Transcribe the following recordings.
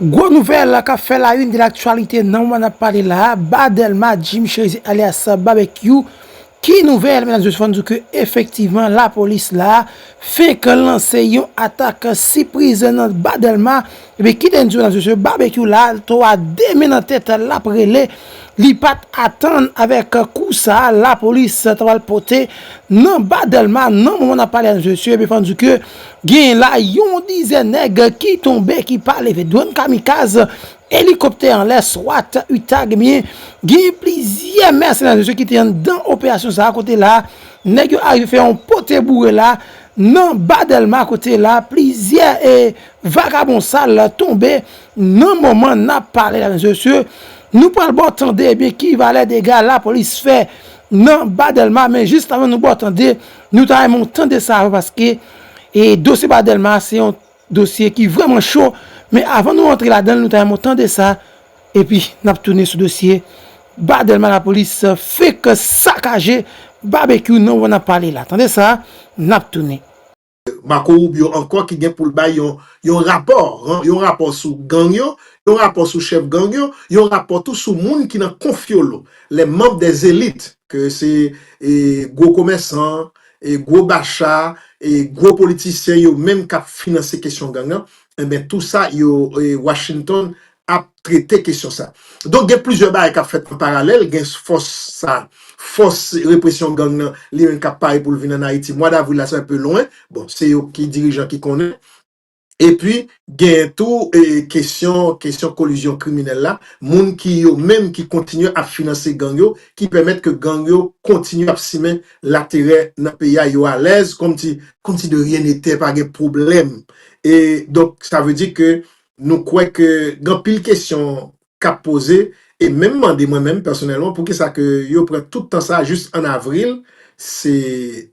Gwo nouvèl kap fè la une de l'actualité nan moman nap pale la a, Ba Dèlma Jim Cherizet alyas Babekyou ki nouvèl medam se fòn di w ke efektivman la polis la fenk lanse yon atak sipriz nan Ba Dèlma ebyen kite n di w medam se mesye Babekyou la to a 2 men nan tèt lap rele li pat atann avèk kou sa la polis ta pral pote nan Ba Dèlma nan moman nap pale a medam se mesye ebyen fòn di w ke Genyen la yon dizèn nèg ki tonbe ki pa leve. Dwòn kamikaz, elikoptè anlè, swat, utag ebyen genyen plizyè mèsenè mesye ki te anndan operasyon sa a kote la nèg yo arive fè yon pote boure la nan ba Dèlma kote la plizyè e vakabon sal tonbe nan moman n ap pale la mesye nou pral ba w tande ebyen ki valè dega lapolis fè nan ba Dèlma men jis avan nou ba w tande Nou ta renmen w tande sa yo paske e dosye pa Dèlma a se yon dosye ki vreman cho men avan nou antre ladan l nou ta renmen w tande sa epi n ap tounen sou dosye ba Dèlma lapolis fenk sakaje babekyou nan w nan pale la tande sa n ap tounen. Marco Rubio ankò ki gen pou l bay yon yon rapò, yon rapò sou gang yo, yon rapò sou chèf gang yo, yon rapò tou sou moun ki nan konfyolo. lè manb dè zelit, ke se gwo komèsan, gwo bacha, gwo politisyen yo menm k ap finanse kesyon gang an, enben tou sa yo Washington ap trete kesyon sa. Donk gen plizyè bagay k ap fèt an paralèl, gen fòs sa, fòs represyon gang nan li menm k ap pare pou l vin ann Ayiti, mwa davril la se anpe lwen, bon se yo ki dirijan ki konnen. Epi genyen tou kesyon kesyon kolizyon kriminèl la, moun ki yo menm ki kontinye ap finanse gang yo, ki pèmèt ke gang yo kontinye ap simen laterè nan peyi a, yo alèz kòmsi kòmsi de ryen netè, pa gen pwoblèm. E donk sa vle di ke nou kwè ke gen anpil kesyon k ap poze e menm mande mwen menm pèsonèlman poukisa ke yo pran tout tan sa jis an avril, se.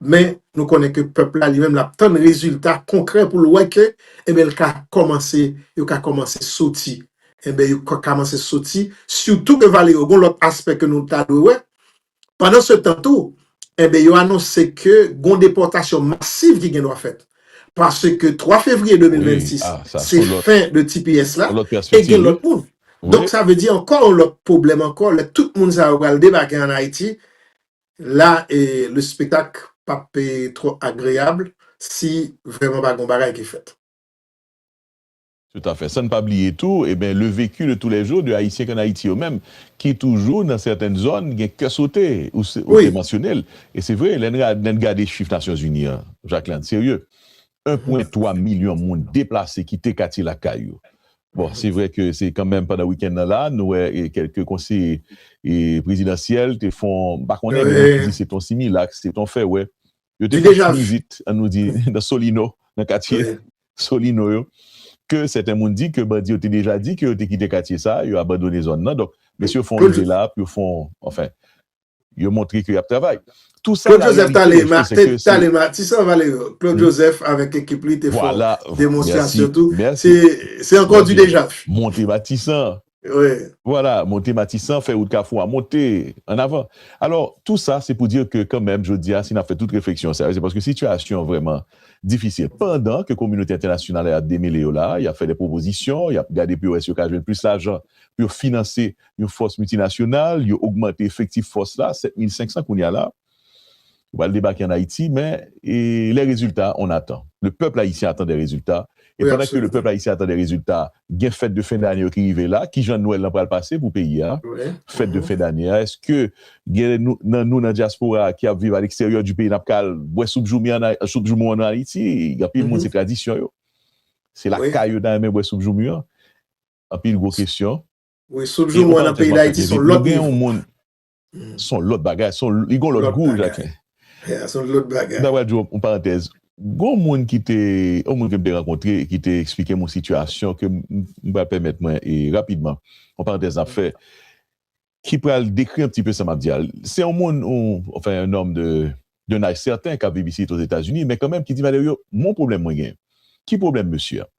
Men, nou konnen ke pèp la li menm l ap tann rezilta konkrè pou l wè ke enben l ka kòmanse, yo ka kòmanse soti. Enben yo ka kòmanse soti, sitou ke vale yo gen yon lòt aspè ke nou ta dwe wè. Pandan se tan tou, enben yo anonse ke gen yon depòtasyon masiv ki gen dwa fèt. Paske 3 fevriye 2026, se fen de tps la, e gen lòt moun. Donk sa vle di ankò yon lòt pwoblèm ankò lè tout moun sa yo pral debake ann Ayiti, La le spetak pap tro agreable si vreman pa gon bagay ki fet. Tout afè. San n pa bliye tou, eben, le vecu de tous les jours de Ayisyen kan Ayiti yo menm, ki toujou nan sètèn zòn gen kè sote. Ou se, ou te mansyone l. E se vre, lè n ra, lè n gade chif Nasyonzini an, Jacqueline, serye, 1 pwen 3 milyon moun deplase kite katye lakay yo. Bon, se vre ke se kanmenm pandan wikenn nan la, nou wè kèlke konseye prezidansyèl te fon, m pa konnen, gen moun ki di se ton similak, se ton fè wè, yo te fon ti vizit, an nou di, nan Solino, nan katye Solino yo, ke sèten moun di ke bandi yo te deja di ke yo te kite katye sa, yo abandone zòn nan, donk mesye yo fon rive la pou yo fon, anfen. Yo montre ke y ap travay. Tou sa la reyalite yo fè se ke se. Ti San Valero, Claude Joseph avèk ekip li te fè demonstrasyon tou. Se ankò di dejaf. Monte Matisan. Vwala, monte Matisan, fè wout Kafou a monte. An avan. Alò, tou sa se pou dir ke kanmenm jodi a si n ap fè tout refleksyon sa yo se paske sitiyasyon vrèman difisil. Pandan ke kominote entènasyonal la y ap demele yo la, y ap fè de pwopozisyon, y ap gade pou yo wè si yo ka jwenn plis lajan pou yo finanse yon fòs miltinasyonal, yo ogmante efektif fòs la, 7500 kounye a la, yo pral debake ann Ayiti, men les résultats, on attend. Le peuple haïtien attend des résultats, e pandan ke le peuple haïtien attend des résultats, gen fèt de fen dane yo ki rive la, kijan Nwèl lan pral pase pou peyi a, fèt de fen dane a, èske gen nan nou nan dyaspora a ki ap viv a leksteryè di peyi n ap ka al bwè soup joumou an ann Ayiti, anpil moun se tradisyon yo, se lakay yo ta renmen bwè soup joumou an, anpil gwo kesyon. Wi souf joumou an nan peyi dayiti son lòt nivo. Son lòt bagay, son li gon lòt gou Jacquin. Ya son lòt bagay. Mta pral di w yon parantèz. Gon moun ki te, yon moun ke m te rankontre ki te eksplike m yon sitiyasyon ke m pral pèmèt mwen e rapidman, yon parantèz nap fè, ki pral dekri yon ti pe sa map di a. Se yon moun, anfen un homme de d'un âge certain kap viv isit Ozetazini men kanmenm ki di Valerio m gon pwoblèm mwen gen. Ki pwoblèm mesye a?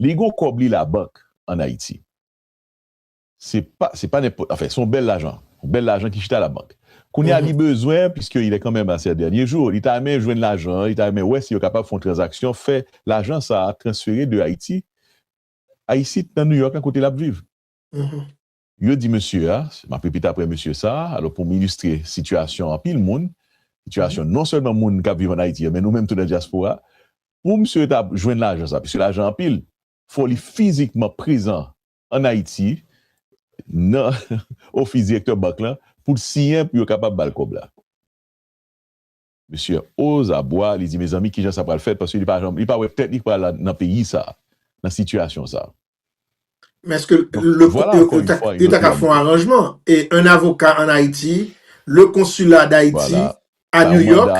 Li gon kòb li labank an Ayiti. Se pa, se pa nenpòt, anfen, se yon bèl lajan, yon bèl lajan ki chita labank. Kounye a li bezwen, piske il est quand même à ses derniers jours, li ta renmen jwenn lajan an, li ta renmen wè si yo kapab fè yon tranzaksyon, fè lajan sa a transfere de Ayiti a isit nan New York la kote l ap viv. Yo di mesye a, m ap repete apre mesye sa a, alò pou m ilistre sitiyasyon anpil moun, sitiyasyon non sèlman moun k ap viv ann Ayiti yo men nou menm tou nan dyaspora, pou mesye ta jwenn lajan sa a, piske lajan an anpil, fò li fizikman prezan an Ayiti nan ofis direktè bank lan pou l siyen pou yo kapab ba l kòb la. Mesye Ozabwa li di mezanmi kijan sa pral fèt paske li pa janm li pa wè tèt li k pral nan peyi sa a nan sitiyasyon sa a. Men èske le yo ta ka fè yon aranjman e un avocat en Haïti le consulat d'Haïti a New York,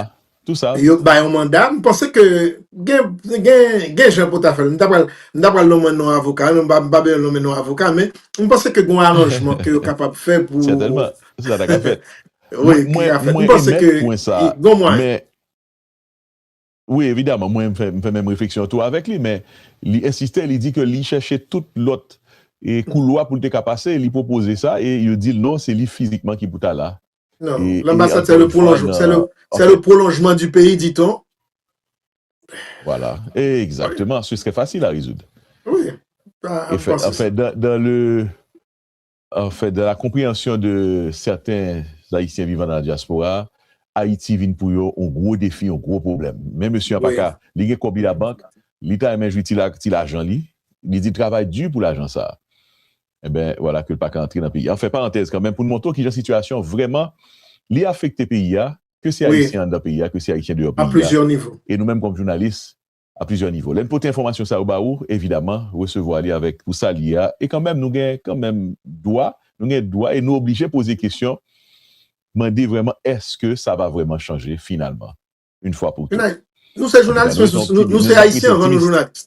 yo k ba yon manda, m panse ke gen jan pou ta fè l, m ta pral lonmen non avoka, m pa bezwen lonmen non avoka, men m panse ke gon aranjman ke yo kapab fè pou... Sètèlman, sa ta ka fèt. Mwen emèt pwen sa, men Wi, evidaman, mwen m fè menm refleksyon an tou avèk li, men li ensiste, li di ke li chèche tout lòt koulwa pou l te ka pase, li pwopoze sa e yo di l non, se li fizikman ki pou ta la. Non, l'ambassade c'est le prolongement, c'est le prolongement du pays dit-on. Voilà, exactement, ce serait facile à résoudre. Oui, ça a facile. Enfin, dans le. En fait, dans la compréhension de certains Ayisyen vivant dans la diaspora, Ayiti vin pou yo yon gwo defi, yon gwo pwoblèm. Men mesye an pa ka, li gen kòb li labank, li ta renmen jwi ti lajan li, li di l travay di pou lajan sa a. Enben, wala ke l pa ka antre nan peyi a. An fè parantèz kanmenm pou n montre w kijan sitiyasyon vrèman li afekte peyi a, ke se Ayisyen anndan peyi a, ke se Ayisyen deyò peyi a. E nou menm kòm jounalis, a plizyè nivo. Lè n pote enfòmasyon sa yo ba ou, evidaman, resevwa li avèk pou sa l ye a, e kanmenm nou gen kanmenm dwa, nou gen dwa e nou oblije poze kesyon, mande vrèman èske sa va vrèman chanje finalman, une fois pour toutes. Nou se jounalis men nou se ayisyen anvan nou jounalis.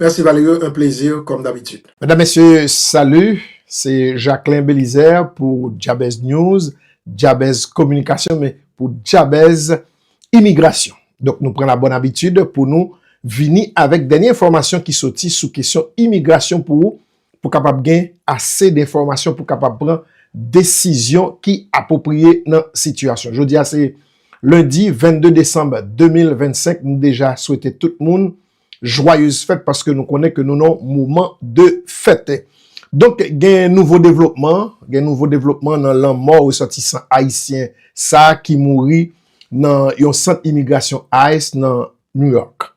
Merci Valerio un plaisir comme d'habitude. Medam mesye salut se Jacquelin Belizaire pou Djabez News, Djabez Kominikasyon men pou Djabez Imigrasyon. Donk nou pran la bonne habitude pou nou vini avèk dènye enfòmasyon ki soti sou kesyon imigrasyon pou ou pou kapab gen ase denfòmasyon pou kapab pran desizyon ki apopriye nan sitiyasyon. Jodi a se Lundi 22 Desanm 2025 nou deja swete tout moun Joyeuse fèt paske nou konnen ke nou nan yon moman de fèt. Donk gen nouvo devlopman, gen nouvo devlopman nan lanmò resòtisan ayisyen sa ki mouri nan yon sant imigrasyon ice nan New York.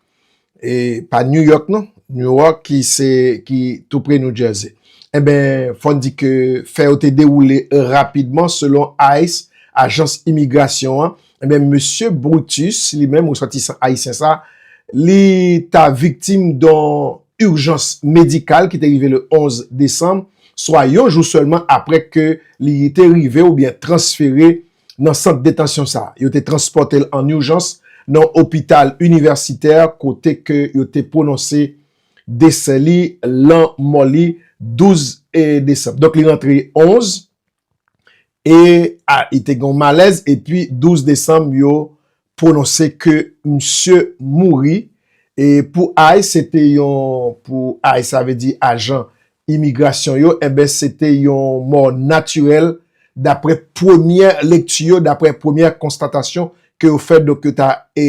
E pa New York non, New York ki se ki tou pre New Jersey. Enben fò n di ke fè yo te dewoule rapidman selon ice, ajans imigrasyon an, Ebyen mesye Brutus li menm resòtisan ayisyen sa li ta viktim don urjans medikal ki te rive le 11 desanm swa yon jou sèlman aprè ke li te rive oubyen transfere nan sant detansyon sa. Yo te transpòte l an urjans nan opital inivèsitè kote ke yo te pwononse desè li, lanmò li, 12 desanm. Donk li rantre 11 e li te gen yon malèz epi 12 desanm yo pwononse ke misye mouri e pou ice se te yon pou ice sa vle di ajan imigrasyon yo enben se te yon mò natirèl daprè premyè lekti yo daprè premyè konstatasyon ke yo fè donk yo ta e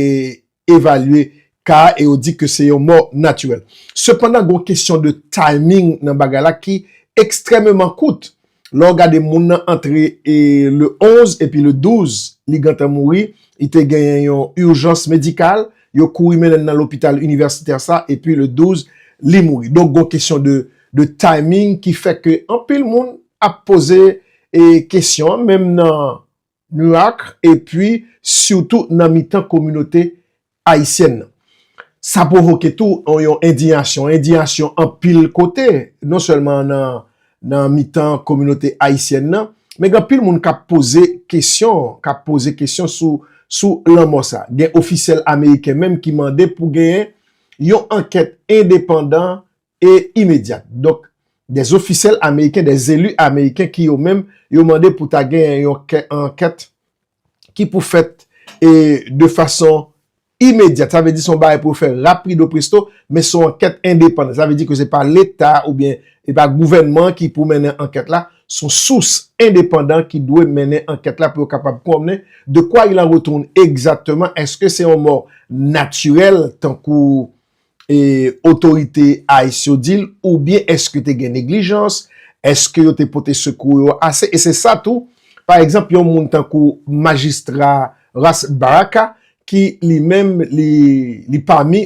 evalye ka a e yo di ke se yon mò natirèl. Sepandan gon kesyon de timing nan bagay la ki ekstrememan kout. Lè w gade moun nan antre e le 11 epi le 12 li gentan mouri, li te genyen yon urgence medicale, yo kouri mennen l nan lopital inivèsitè sa epi le 12 li mouri. Donk gon kesyon de de timing ki fè ke anpil moun ap poze e kesyon an menm nan Mirak epi sitou nan mitan kominote ayisyèn nan. Sa pwovoke tou yon endiyasyon, endiyasyon anpil kote, non sèlman nan mitan kominote ayisyèn nan, men gen anpil moun k ap poze kesyon, k ap poze kesyon sou lanmò sa. Gen ofisyèl ameriken menm ki mande pou genyen yon ankèt endepandan e imedyat. Donk, dè zofisèl ameriken, dè zeli ameriken ki yo menm, yo mande pou ta gen yon ankèt ki pou fèt e de fason imedyat. Sa vle di son bagay pou yo fè rapido presto, men son ankèt endepandan. Sa vle di ke se pa leta ou byen e pa gouvènman ki pou mennen ankèt la, son sous endepandan ki dwe mennen ankèt la pou yo kapab konnen de kwa il en retourne egzatteman, eske se yon mò natirèl tankou e otorite ice yo dil oubyen eske te gen neglijans eske yo te pote sekou yo ase e se sa tou pa egzanp yon moun tankou majistra Ras Baraka ki li menm li pami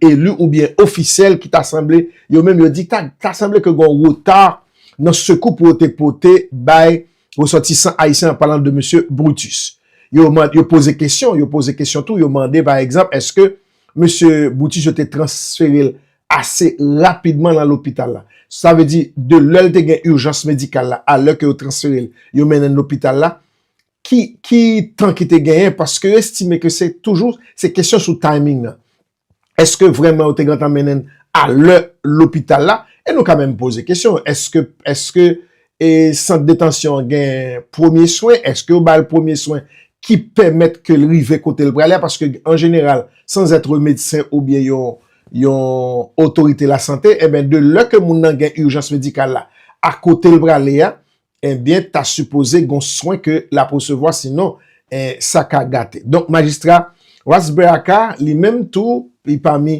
elu oubyen ofisyèl ki ta sanble yo menm yo di ta sanble ke gon reta nan sekou pou yo te pote bay resòtisan ayisyen an palan de mesye Brutus yo poze kesyon yo poze kesyon tou yo mande pa egzanp eske Mesye Brutus yo te transfere l ase rapidman nan lopital la. Sa vle di, de lè l te gen urjans medikal la a lè ke yo transfere l, yo mennen l lopital la, ki tan ki te genyen? Paske yo estime ke se toujou, se kesyon sou timing nan. Eske vrèman yo te gentan mennen l a lè lopital la? E nou ka menm poze kesyon, eske E sant detansyon an gen premye swen? Eske yo bal premye swen ki pèmèt ke l rive kote l prale a? Paske an jeneral, san zètre medsen oubyen yon yon otorite lasante, enben de lè ke moun nan gen urjans medikal la a kote l prale a, enben ta sipoze gon swen ke l ap resevwa sinon en sa ka gate. Donk majistra Rasberaka li menm tou li pami